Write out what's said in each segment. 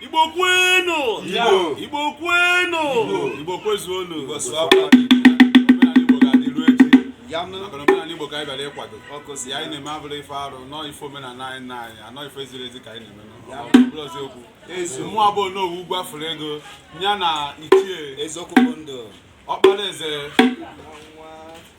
Igbo kwenu! Igbo! Igbo kwenu! Igbo kwezuonu! Igbo sụwakwa Igbo. Omenala Igbo ga-adị ruo echi. Ya nụ. Maka na omenala Igbo ka anyị bịara ịkwado. Ọkụ si Ya anyị na-eme abụrọ ife arụ, na ọ ife omenala anyị na anyị, anọ ife ziri ezi ka anyị na-eme nọ. Ọ bụrọ eziokwu. Ezu. Mụwa bụ Onowu ugwu afụrụ ego, ya na ichie eziokwu bụ ndụ. ọkpara eze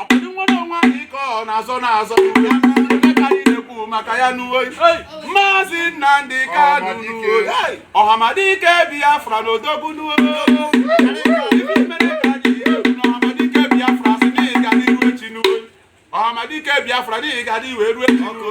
ọ bụdị inwere onwe anyị ka ọ na-azọ na-azọ ya ndị ka anyị na-ekwu maka ya n'uwe maazị Nnamdi Kanu n'uwe ọhamadike Biafra na odogwu n'uwe ife mere ka anyị ekwu na ọhamadike Biafra sị na ị ga-adịru echi n'uwe ọhamadike Biafra na ị ga-adị wee ruo echi n'uwe